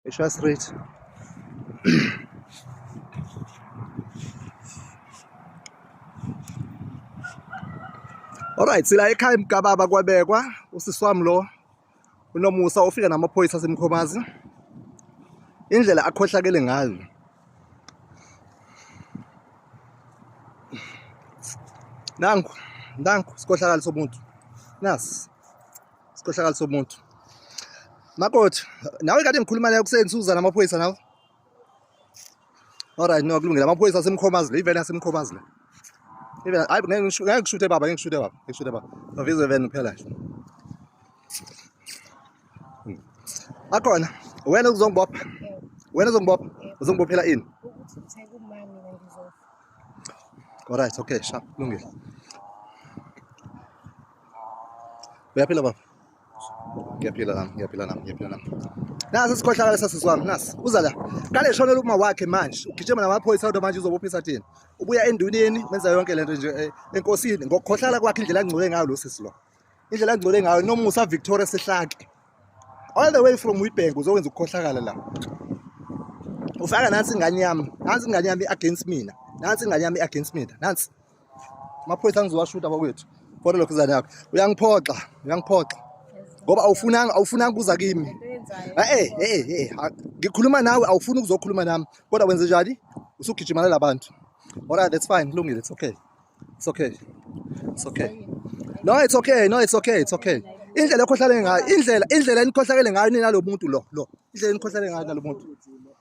Esho straight. Alright sila ekhaya mgababa kwabekwa usisi wami lo unomusa ufika namaphoyisa asemkhomazi indlela akhohlakele ngayo nangu nangu sikhohlakali somuntu nasi Sikhohlakali somuntu. Makoti, nawe kade ngikhuluma naye kuseni Susan amaphoyisa nawe. Alright, no kulungile. Amaphoyisa asemkhomazi le, iveni asemkhomazi le. Iveni, hayi ngeke ngishute baba, ngeke ngishute baba, ngeke ngishute baba. Novizo iveni kuphela nje. Hmm. Akhona, wena uzongibopha. Wena uzongibopha. Uzongibophela ini? Alright, okay, sharp, kulungile. uyaphila baba ngiyaphila nami ngiyaphila nami ngiyaphila nami nasi sikhohlakala sasisi wami nasi uza la kale eshonela uma wakhe manje ugijima namaphoyisa kodwa manje uzobophisa thina ubuya enduneni wenza yonke lento nje eh, enkosini ngokukhohlala kwakhe indlela angcole ngayo lo sisi lo indlela angcole ngayo nomusa victoria sehlake all the way from witbank uzokwenza ukukhohlakala la ufaka nansi ingane yami nansi ingane yami against mina nansi ingane yami against mina nansi amaphoyisa angizowashuta bakwethu khona lokho izane yakho uyangiphoxa uyangiphoxa ngoba awufunanga awufunanga kuza kimi eh eh eh ngikhuluma nawe awufuni ukuzokhuluma nami kodwa wenze njani usugijimana labantu alright that's fine kulungile it's okay it's okay it's okay no it's okay no it's okay it's okay indlela ekhohlakele ngayo indlela indlela enikhohlakele ngayo nina lo muntu lo lo indlela enikhohlakele ngayo nalo muntu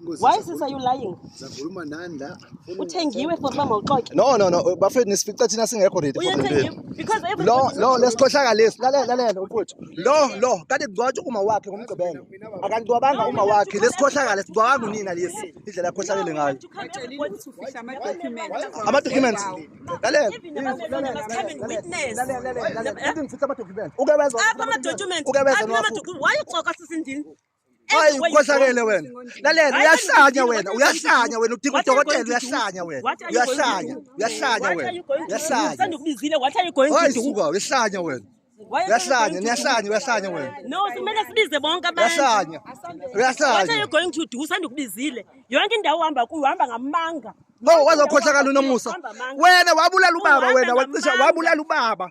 Why sis are you lying? Zakhuluma nani la? Uthengiwe for uba mawuxoke. No no no bafethu nisifica thina singekho ready for the Because every Lo lo lesikhohlaka lesi lalela lalela mfowethu. Lo lo kanti kugcotshwa uma wakhe ngomgqibelo. Akangcwabanga uma wakhe lesikhohlaka lesicwabanga unina lesi indlela yakhohlakele ngayo. Ama documents. Lalela. Lalela. Uke bezwa. Apha ama documents. Uke bezwa. Why uxoka sisindini? Hayi ukhohlakele wena. Lalela uyahlanya wena, uyahlanya wena udinga udokotela uyahlanya wena. Uyahlanya, uyahlanya wena. Uyahlanya. Sendikubizile what are you going to do? Hayi suka uyahlanya wena. Uyahlanya, niyahlanya, uyahlanya wena. No, kumele sibize bonke abantu. Uyahlanya. Uyahlanya. What are you going to do? Sendikubizile. Yonke indawo uhamba kuyo uhamba ngamanga. No, wazokhohlakala unomusa. Wena wabulala ubaba wena, wacisha wabulala ubaba.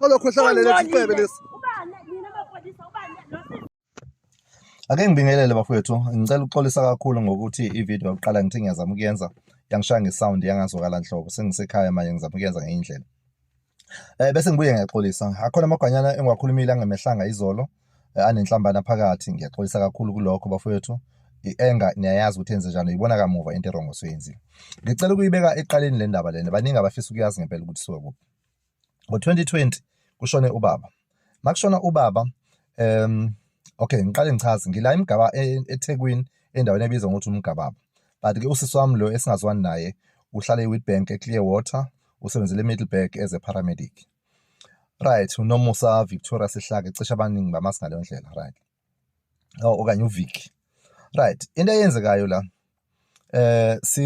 Olokhohlakalele sifebe lesi. Ake ngibingelele bafowethu, ngicela ukuxolisa kakhulu ngokuthi i-video yokuqala ngithe ngiyazama ukuyenza yangishaya ngesound yangazwakala nhlobo. Sengisekhaya manje ngizama ukuyenza ngenye indlela. Eh bese ngibuye ngiyaxolisa. Akhona amagwanyana engiwakhulumile angemehlanga izolo eh, anenhlambana phakathi. Ngiyaxolisa kakhulu kulokho bafowethu. ienga niyayazi ukuthi enze njani uyibona kamuva into erongo soyenzile ngicela ukuyibeka eqaleni le ndaba lena baningi abafisa ukuyazi ngempela ukuthi siwe kuphi ngo-2020 kushone ubaba makushona ubaba um okay ngiqale ngichaze ngila imgaba e, eThekwini endaweni ebizwa ngokuthi umgababa but ke usisi wami lo esingazwani naye uhlala eWitbank eClearwater usebenzela eMiddleburg as a paramedic right unomusa Victoria Sihlake cishe abaningi bamazi ngaleyo ndlela right oh, okanye uviki right into eyenzekayo la eh si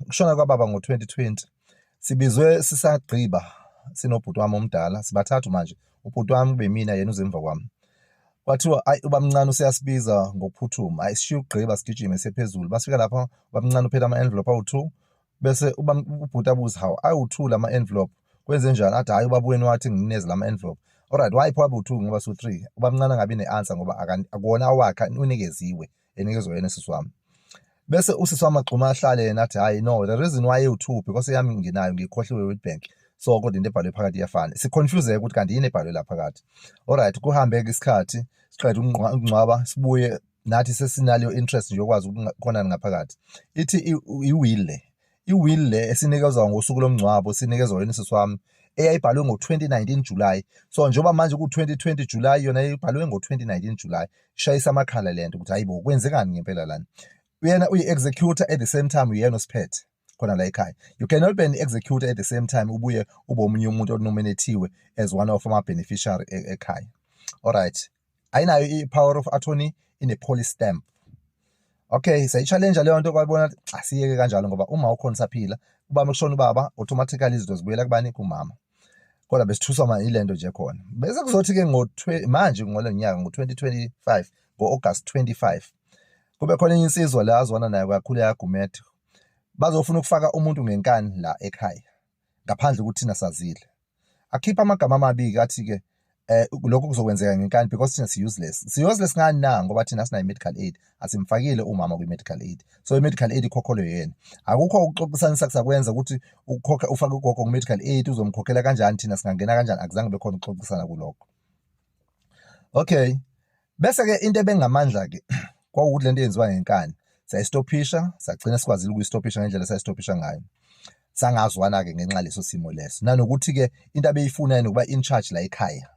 kushona kwababa ngo-2020 sibizwe sisagqiba sinobhuti wami omdala sibathathu manje ubhuti wami kube mina yena uzemva kwami kwathiwa ayi ubamncane useyasibiza ngokuphuthuma ayi sishiye ukugqiba sigijime sephezulu basifika lapha ubamncane uphethe ama-envelope awu-two bese uba ubhuti abuze hawu awu-two lama-envelope kwenze njani athi hhayi ubaba wenu wathi nginineze lama-envelope alright why pho abu-two ngoba su-three ubamncane angabi ne-answer ngoba akuwona awakhe unikeziwe enikezwe yena sisi wami bese usisi wami agxuma ahlale yena athi hhayi no the reason why ewu-two because yami nginayo ngiyikhohliwe world bank so kodwa into ebhalwe phakathi iyafana siconfuseke ukuthi kanti yini ebhalwe la phakathi alright kuhambe-ke isikhathi siqeda ukungcwaba sibuye nathi sesinaleyo interest nje yokwazi ukukhonani ngaphakathi ithi i-will le i-will le esinikezwa ngosuku lomngcwabo sinikezwa yona isisi wami eyayibhalwe ngo-2019 July so njengoba manje ku-2020 July yona ibhalwe ngo-2019 July ishayisa amakhala le nto ukuthi hayi bo kwenzekani ngempela lana uyena uyi-executor at the same time uyena osiphethe khona la ekhaya you cannot be an executor at the same time ubuye ube omunye umuntu onominathiwe as one of ama beneficiary e, ekhaya all right ayinayo i power of attorney ine police stamp okay sayichallenja leyo nto kwabona asiyeke kanjalo ngoba uma ukhona saphila uba mekushona ubaba automatically izinto zibuyela kubani kumama kodwa besithuswa manje ilento nje khona bese kuzothi ke ngo manje ngole nyaka ngo 2025 ngo August 25 kube khona insizwa la azwana nayo kakhulu yagumethe bazofuna ukufaka umuntu ngenkani la ekhaya ngaphandle ukuthi thina sazile akhipha amagama amabili athi ke eh lokho kuzokwenzeka ngenkani because thina si useless si useless ngani na ngoba thina sinayo medical aid asimfakile umama kwi medical aid so i medical aid ikhokhelwe yena akukho ukuxoxisanisa kusakwenza ukuthi ukhokhe ufake ugogo ku medical aid uzomkhokhela kanjani thina singangena kanjani akuzange bekhona ukuxoxisana kuloko okay bese ke into ebengamandla ke kwawukuthi lento yenziwa ngenkani sayistophisha sagcina sikwazile ukuyistophisha ngendlela sayistophisha ngayo sangazwana ke ngenxa leso simo leso nanokuthi ke into abeyifuna yena ukuba in charge la ekhaya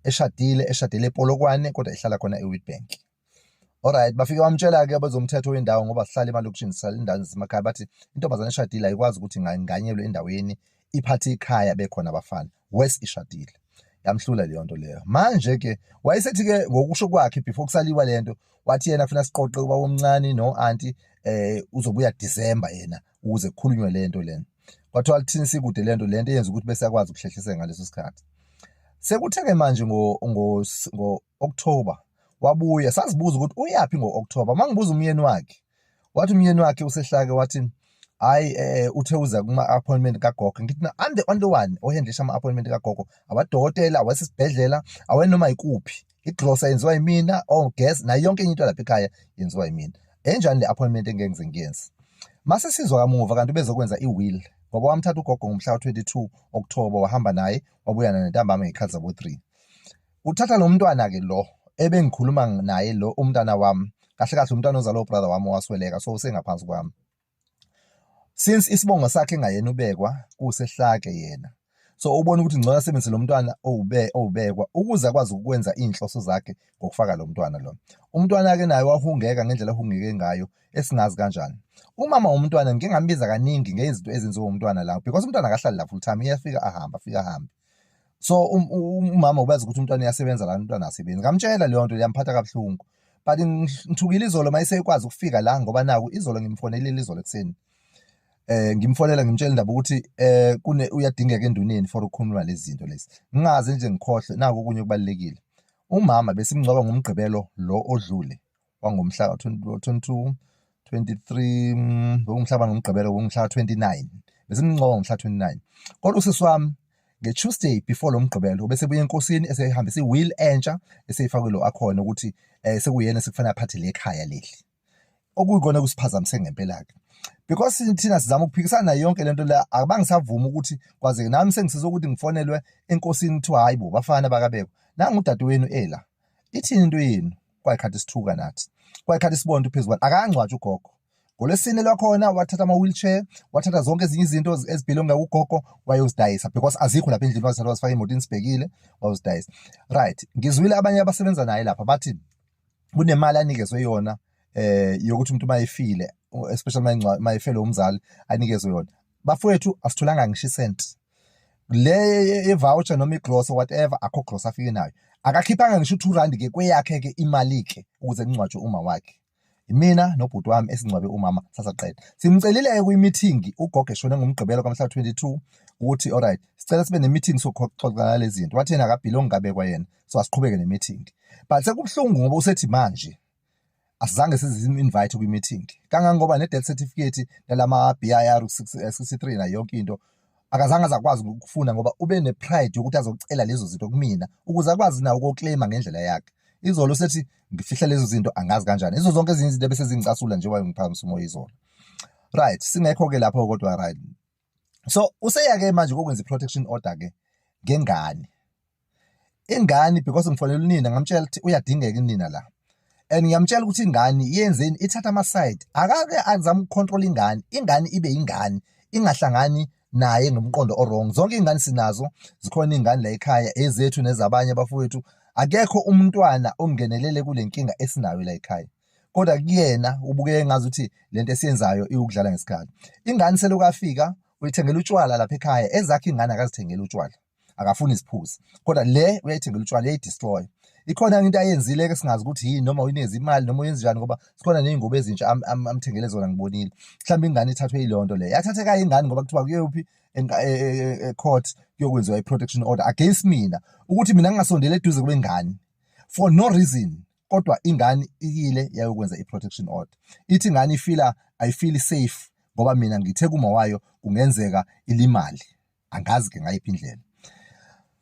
eshadile eshadele epolokwane kodwa ihlala khona eWitbank Alright bafike bamtshela ke abezomthetho wendawo ngoba sihlala emalokishini sihlala endaweni zasemakhaya bathi intombazane eshadile ayikwazi ukuthi inganyelwe endaweni iphathe ikhaya bekhona abafana worse ishadile yamhlula leyo nto leyo manje ke wayesethi ke ngokusho kwakhe before kusaliwa lento wathi yena kufuna siqoqe uba omncane no auntie eh uzobuya December yena ukuze kukhulunywe lento lena kwathiwa kuthini sikude lento lento yenza ukuthi bese akwazi ukuhlehliseka ngaleso sikhathi sekuthe ke manje ngo ngo October wabuya sazibuza ukuthi uyaphi ngo-October mangibuza umyeni wakhe wathi umyeni wakhe usehlake wathi hayi eh, eh uthe uza kuma appointment kagogo ngithi na ande only one ohendlisha ama appointment kagogo abadokotela awasesibhedlela awenoma ikuphi iglosa yenziwa yimina or oh, guess nayo yonke into lapha ekhaya yenziwa yimina enjani le appointment engengize ngiyenze mase sizwa kamuva kanti bezokwenza i-will ngoba wamthatha ugogo ngomhla ka-22 October wahamba naye wabuyana nentambama ngekhathi zabo-3 uthatha lo mntwana ke lo ebengikhuluma naye lo umntana wami kahle kahle umntwana ozalwa ubrother wami owasweleka so usengaphansi kwami since isibongo sakhe engayena ubekwa kusehlake yena so ubona ukuthi ngcono asebenzise lo mntwana owube owubekwa ukuze akwazi ukwenza izinhloso zakhe ngokufaka lo mntwana lo umntwana ke naye wahungeka ngendlela ehungeke ngayo esingazi kanjani umama womntwana ngingambiza kaningi ngezinto ezenziwa umntwana lapho because umntwana akahlali lapho full time iyafika ahamba afika ahambe so um, um, umama ubazi ukuthi umntwana uyasebenza kanti umntwana asebenzi ngamtshela leyo nto liyamphatha kabuhlungu but ngithukile izolo uma iseyikwazi ukufika la ngoba naku izolo ngimfonelile izolo ekuseni eh ngimfonela ngimtshela indaba ukuthi eh kune uyadingeka enduneni for ukukhuluma lezi zinto lezi ngingaze nje ngikhohle naku okunye kubalekile umama besimngcwaba ngomgqibelo lo odlule wangomhla ka 22 23 mm, ngomhla bani ngomgqibelo ngomhla 29 besimncoka ngomhla 29 kodwa usisi wami nge-tuesday before lo mgqibelo bese buye enkosini esehambisa i-will entsha eseyifakwe lo akhona ukuthi um sekuyena sekufanele aphathe le khaya leli okuyikona kusiphazamise ngempela-ke because thina sizama ukuphikisana nayo yonke lento la abangisavumi ukuthi kwazeke nami sengisiza ukuthi ngifonelwe enkosini kuthiwa hayi bo bafana bakabekwa nangu udadewenu ela ithini into yenu kwayikhathi sithuka nathi kwayikhathi sibonda uphezu kwakhe akangcwatshwa ugogo ngolwesine lwakhona wathatha ama-wheelchair wathatha zonke ezinye izinto ezibhilonga ugogo wayozidayisa because azikho lapha endlini wazithatha wazifaka emotini sibhekile wayozidayisa right ngizwile abanye abasebenza naye lapha bathi kunemali anikezwe yona eh yokuthi umuntu mayefile especially mayefele umzali anikezwe yona bafowethu asitholanga ngisho isenti le voucher noma igrosa whatever akho grosa afike nayo akakhiphanga ngisho u2 rand ke kweyakhe ke imali ke ukuze kungcwatshwe uma wakhe mina nobhuti wami esingcwabe umama sasaqeda simcelile kwi meeting ugogo eshone ngomgqibelo kamhla 22 ukuthi alright sicela sibe ne meeting sokuxoxana lezi zinto wathi yena akabhilongi kabekwa yena so asiqhubeke ne meeting but sekubuhlungu ngoba usethi manje asizange sizi-invite kwi-meeting kangangoba ne-death certificate nalama-BIR 63 nayo yonke into akazange azakwazi ukufuna ngoba ube ne-pride yokuthi azocela lezo zinto kumina ukuze akwazi nawo ukukleyima ngendlela yakhe izolo sethi ngifihla lezo zinto angazi kanjani izo zonke ezinye izinto ebesezingicasula njengoba ngiphakamisa umoya izolo right singekho-ke lapho kodwa right so useyake manje kokwenza i-protection order ke ngengane ingane because ngifonela unina ngamtshela ukuthi uyadingeka inina la and ngiyamtshela ukuthi ingane yenzeni ithatha ama-side akake azama ukucontrol ingane ingane ibe ingane ingahlangani naye ngomqondo orong zonke iy'ngane sinazo zikhona iy'ngane la ekhaya ezethu nezabanye abafowethu akekho umntwana ongenelele kule nkinga esinayo la ekhaya kodwa kuyena ubukeka engazi ukuthi lento esiyenzayo iwukudlala ngesikhathi ingane selokhu afika uyithengela utshwala lapha ekhaya ezakhe ingane akazithengela utshwala akafuni iziphuzi kodwa le uyayithengela utshwala uyayidestroy ikhona into ayenzile ke singazi ukuthi yini noma uyinezi imali noma uyenza njani ngoba sikhona nezingubo ezintsha amthengele zona ngibonile mhlawumbe ingane ithathwe ilonto le yathatheka ingane ngoba kuthiwa kuyophi e, e, e, court kuyokwenziwa i-protection order against mina ukuthi mina ngingasondela eduze kwengane for no reason kodwa ingane ikile yayokwenza i-protection order ithi ingane ifila ayifili safe ngoba mina ngithe kuma wayo kungenzeka ilimali angazi ke ngayiphi indlela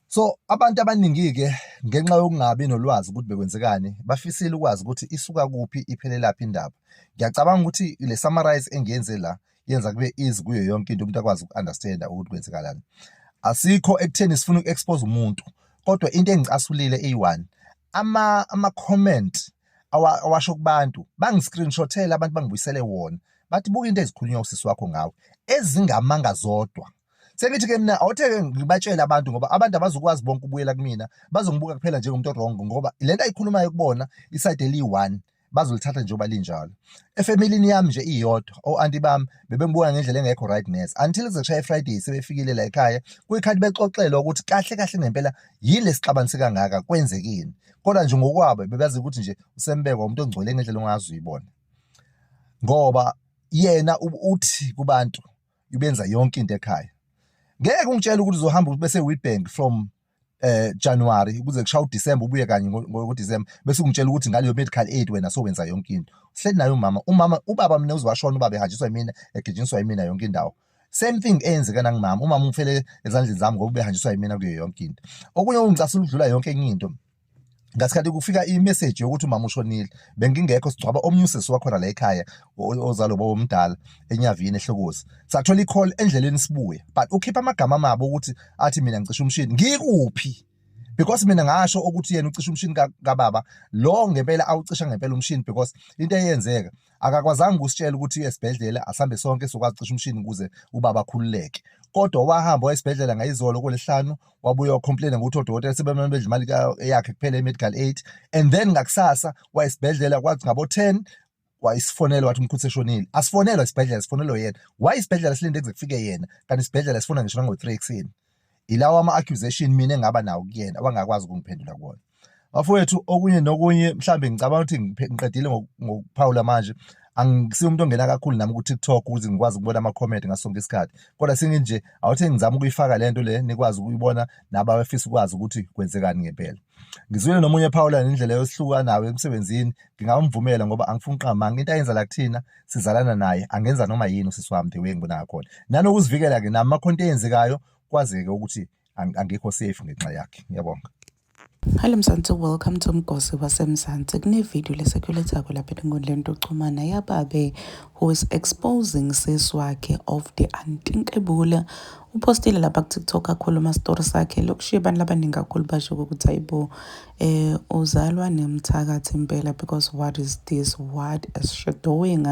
so abantu abaningi ke ngenxa yokungabi nolwazi ukuthi bekwenzekani bafisile ukwazi ukuthi isuka kuphi iphelelaphi indaba ngiyacabanga ukuthi le summarize engiyenze la yenza kube easy kuyo yonke into umuntu akwazi uku-understanda ukuthi kwenzekalani asikho ekutheni sifuna uku-expose umuntu kodwa into engicasulile eyi-one ama-comment awasho kubantu bangi-screenshothele abantu bangibuyisele wona bathi buka into ezikhulunywa usisi wakho ngawe ezingamanga zodwa sengithi ke mina awuthe-ke ngibatshele abantu ngoba abantu abazokwazi bonke ukubuyela kumina bazongibuka kuphela njengomuntu orongo ngoba le nto ayikhulumayo kubona isayide eliyi-one bazolithatha njengoba linjalo efamilini yami nje iyodwa o-anti bami bebembuka ngendlela engekho right nurse until zeshaye efriday sebefikile la ekhaya kuyikhathi bexoxelwa ukuthi kahle kahle ngempela yini lesixabanise kangaka kwenzekini kodwa nje ngokwabo bebazi ukuthi nje usembekwa umuntu ongcwele ngendlela ongazi uyibona ngoba yena uthi kubantu ubenza yonke into ekhaya ngeke ungitshele ukuthi uzohamba bese Witbank from eh January kuze kushaya uDecember ubuye kanye ngoDecember bese ungitshela ukuthi ngaleyo medical aid wena so wenza yonke into sihleli naye umama umama ubaba mina uzwashona ubaba ehanjiswa yimina egijinswa yimina yonke indawo same thing eyenzeka nangimama umama ungifele ezandleni zami ngoba ubehanjiswa yimina kuyo yonke into okunye ungicasula ukudlula yonke enye into ngasikhathi kufika imessage yokuthi umama ushonile bengingekho sigcwaba omunye usisi wakhona la ekhaya ozalo baba omdala enyavini ehlokozi sathola i-call endleleni sibuya but ukhipha amagama amabo ukuthi athi mina ngicisha umshini ngikuphi because mina ngasho ukuthi yena ucisha umshini kababa lo ngempela awucisha ngempela umshini because into eyenzeka akakwazanga ukusitshela ukuthi uye esibhedlela asambe sonke sokwazi cisha umshini ukuze ubaba akhululeke kodwa wahamba waya esibhedlela ngayizolo kolesihlanu wabuya wacomplaina ngokuthi odokotela sebemane bedla imali yakhe kuphela i-medical aid and then ngakusasa waya esibhedlela kwathi ngabo-ten wayisifonela wathi umkhulu seshonile asifonelwa isibhedlela sifonelwe yena why isibhedlela silinde kuze kufike yena kanti isibhedlela sifona ngisho nango-three ekuseni ilawa ama accusation mina engaba nawo kuyena wangakwazi ukungiphendula kuona bafowethu okunye nokunye mhlambe ngicabanga ukuthi ngiqedile ngokuphawula manje angisiyo umuntu ongena kakhulu nami ku-tiktok ukuze ngikwazi ukubona ama-comment ngaso sonke isikhathi kodwa senginje awuthe ngizama ukuyifaka le nto le nikwazi ukuyibona nabafisa ukwazi ukuthi kwenzekani ngempela ngizwile nomunye phawula nendlela yosihlukanayo emsebenzini ngingamvumela ngoba angifuni uqamanga into ayenza la kuthina sizalana naye angenza noma yini usisi wami the way ngibona ngakhona nanokuzivikela-ke nami amakhonto eyenzekayo kwazeke ukuthi angikho safe ngenxa yakhe ngiyabonga Hello Mzansi, welcome to Mgosi waseMzansi. Kunevideo lesekulethako lapha enkundleni yokuxhumana yababe who is exposing sis wakhe of the antinkebula. Upostile lapha ku-TikTok akhuluma story sakhe lokushiya abantu labaningi kakhulu basho ukuthi ayibo Eh uzalwa nemthakathi impela because what is this what is she doing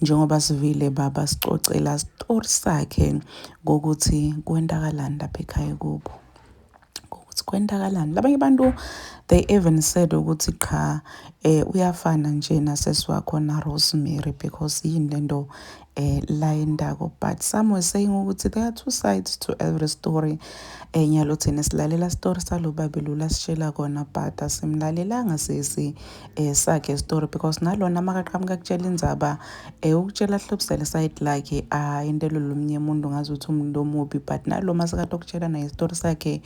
njengoba sivile baba sicocela story sakhe ngokuthi kwentakalani lapha ekhaya kubo ukuthi kwentakalani labanye abantu they even said ukuthi qha eh uyafana nje nasesi wakho na Rosemary because yini lento eh la indako but some were saying ukuthi there are two sides to every story enye lo thina silalela story salo babe lula sishela kona but asimlalelanga sisi eh sakhe story because nalona makaqhamuka kutshela indzaba eh ukutshela hlobisele side lakhe ah into lolumnye umuntu ngazi ukuthi umuntu omubi but naloma sekatokutshela naye story sakhe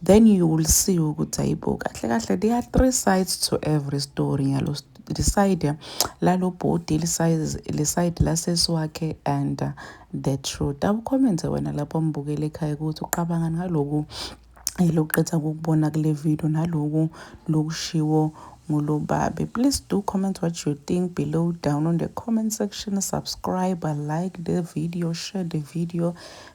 then you will see ukuthi ayibo kahle kahle there are three sides to every story yalo liside lalo bhodi liside lasesi wakhe and uh, the truth awucommente wena lapho mbukele ekhaya ukuthi uqabanga ngaloku elokuqeda ukubona kule video naloku lokushiwo ngulobabe please do comment what you think below down on the comment section subscribe like the video share the video